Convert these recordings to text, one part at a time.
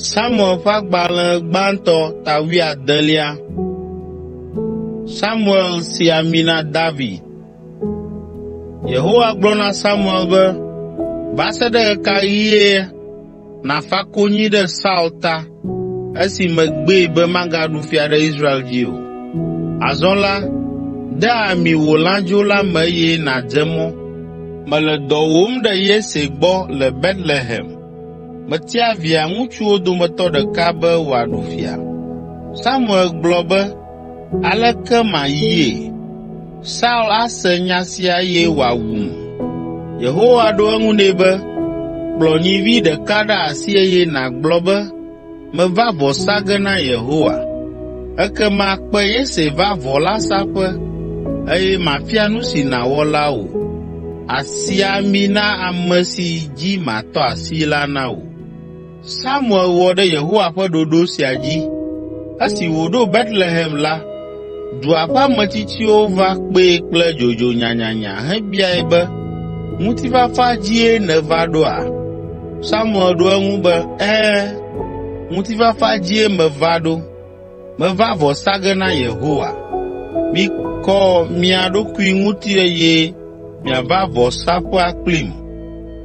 Samuel ƒe agbalẽ gbãtɔ ta wuiadelia. Samuel si ami na David. Yehowa gblɔ na Samuel be, “Va se ɖe ɣe ka ɣie nàfa konyi ɖe Saul ta esi megbee be magaɖu fia ɖe Israel dzi o. Azɔ la, de ami wò lãdzo la me eye nàdze mɔ. Mele dɔ wòm ɖe Yese gbɔ le Betlehem. Metia via ŋutsuwo dometɔ ɖeka be wòaɖu fia.” Samuel gblɔ be, Aleke mayie? Saul ase nya sia eye wòawum.” Yehowa ɖo eŋu nɛ be, “Kplɔ nyivi ɖeka ɖe asi eye nàgblɔ be, ‘Meva vɔ sa ge na Yehowa.’ Ekema kpe Yese va vɔ la saƒe eye mafia nu si nàwɔ la wò. Àsi ami na ame si dzi matɔ asi la na wò.” Samuel wɔ ɖe Yehowa ƒe ɖoɖo sia dzi. Esi wòɖo Betlehem la, dua ƒe ametsitsiwo va kpee kple dzodzo nyanyanya hebiae be, “Ŋutifafa dzie nèva ɖoa?” Samuel ɖo eŋu be, “Ɛ̃, ŋutifafa dzie meva ɖo.” Meva vɔ sa ge na Yehowa. Mikɔ mia ɖokui ŋuti eye miava vɔsaƒea kplim.”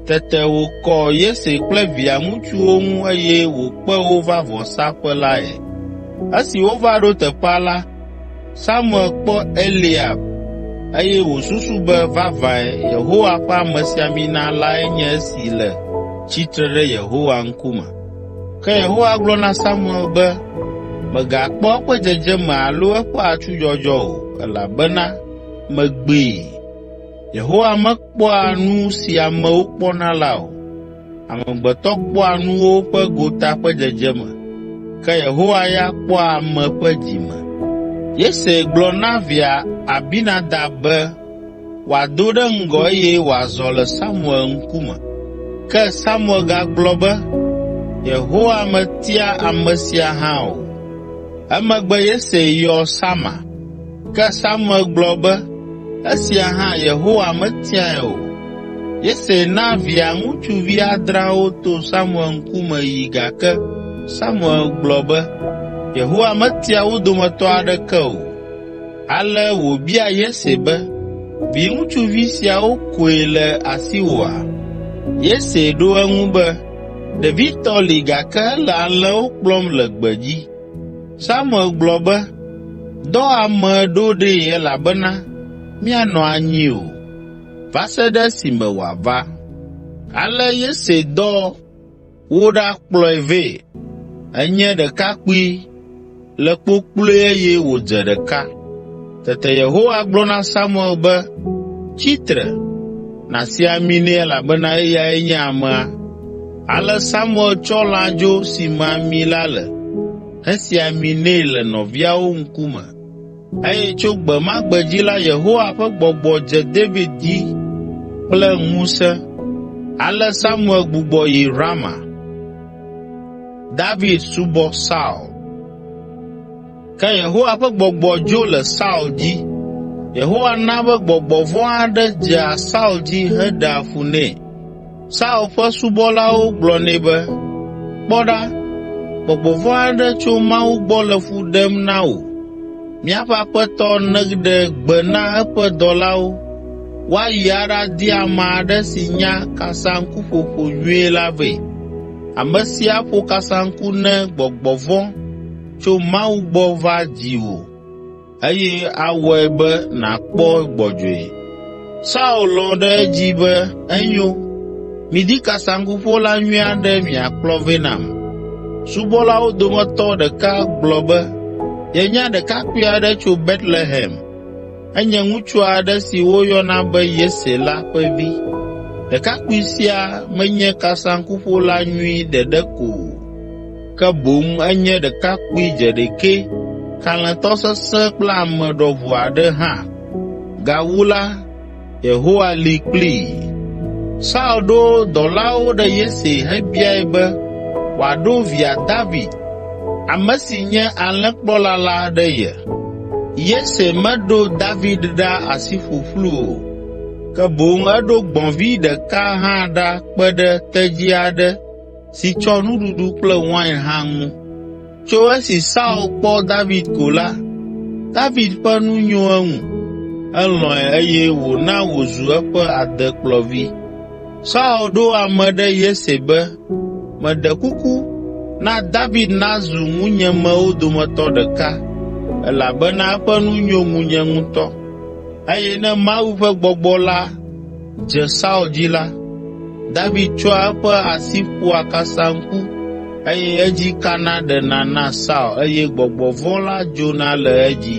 Tete wòkɔ Yese kple via ŋutsuwo ŋu eye wòkpe wo va vɔsaƒe lae. Esi wova ɖo teƒea la, Samuel kpɔ Eliab eye wòsusu be vavãe Yehowa ƒe amesiamina lae nye esi le tsitre ɖe Yehowa ŋkume. Ke Yehowa gblɔ na Samuel be, “Mègakpɔ eƒe dzedzeme alo eƒe atsudzɔdzɔ o, elabena megbee. Yehowa mekpɔa nu si amewo kpɔna la o. Amegbetɔ kpɔa nuwo ƒe gota ƒe dzedzeme, ke Yehowa ya kpɔa ame ƒe dzime.” Yese gblɔ na via Abinadab be, wòado ɖe ŋgɔ eye wòazɔ le Samuel ŋkume. Ke Samuel gagblɔ be, “Yehowa metia ame sia hã o.” Emegbe Yese yɔ Sama. Ke Samuel gblɔ be, “Esia hã Yehowa metiae o.” Yese na via ŋutsuvi adreawo to Samuel ŋkume yi gake Samuel gblɔ be, “Yehowa metia wo dometɔ aɖeke o.” Ale wòbia Yese be, “Viŋutsuvi siawo koe le asiwòa?” Yese ɖo eŋu be, “Ɖevitɔ li gake ele alẽwo kplɔm le gbedzi.” Samuel gblɔ be, “Dɔ ame ɖo ɖee elabena míanɔ anyi o, va se ɖe esime wòava.” Ale Yese dɔ Woɖakplɔe vɛ. Enye ɖekakpui, le kpokploe eye wòdze ɖeka. Tete Yehowa gblɔ na Samuel be, “Tsi tre, nàsi ami nɛ elabena eyae nye amea.” Ale Samuel tsɔ lãdzo si me ami la le hesi ami nɛ le nɔviawo ŋkume. Eye tso gbe ma gbe dzi la, Yehowa ƒe gbɔgbɔ dze David dzi kple ŋusẽ. Ale Samuel gbugbɔ yi Rama. David subɔ Saul. Ke Yehowa ƒe gbɔgbɔ dzo le Saul dzi. Yehowa na be gbɔgbɔ vɔ̃ aɖe dzea Saul dzi heɖea fu nɛ. Saul ƒe subɔlawo gblɔ nɛ be, “Kpɔ ɖa, gbɔgbɔ vɔ̃ aɖe tso Mawu gbɔ le fu ɖem na wò. Míaƒe aƒetɔ neɖe gbe na eƒe dɔlawo woayi aɖadi ame aɖe si nya kasaŋkuƒoƒo nyuie la vɛ. Ame si aƒo kasaŋku ne gbɔgbɔ vɔ̃ tso Mawu gbɔ va dziwò.” eye awɔe be nàkpɔ gbɔdzɔe.” Saul lɔ̃ ɖe edzi be, “Enyo, midi kasaŋkuƒola nyui aɖe miakplɔ vɛ nam.” Subɔlawo dometɔ ɖeka gblɔ be, “Yenya ɖekakpui aɖe tso Betlehem. Enye ŋutsu aɖe si woyɔna be Yese la ƒe vi. Ɖekakpui sia menye kasaŋkuƒola nyui ɖeɖe ko o.” ke boŋ enye ɖekakpui dzeɖekɛ, kalẽtɔ sesẽ kple ame ɖɔʋu aɖe hã. Gawu la, Yehowa li kplii. Saul ɖo dɔlawo ɖe Yese hebiae be wòaɖo via David, ame si nye alẽkplɔla la ɖe ye. Yese meɖo David ɖa asi ƒuƒlu o, ke boŋ eɖo gbɔ̃vi ɖeka hã ɖa kpe ɖe tedzi aɖe si tsɔ nuɖuɖu kple wain hã ŋu. Tso esi Saul kpɔ David ko la, David ƒe nu nyo eŋu, elɔ̃e eye wòna wòzu eƒe adekplɔvi. Saul ɖo ame ɖe Yese be, “Meɖe kuku, na David nazu ŋunyemewo dometɔ ɖeka, elabena eƒe nu nyo ŋunye ŋutɔ.” Eye ne Mawu ƒe Gbɔgbɔ la dze Saul dzi la, David tsɔa eƒe asi ƒoa kasaŋku eye edzi kana ɖena na Saul eye gbɔgbɔ vɔ̃ la dzona le edzi.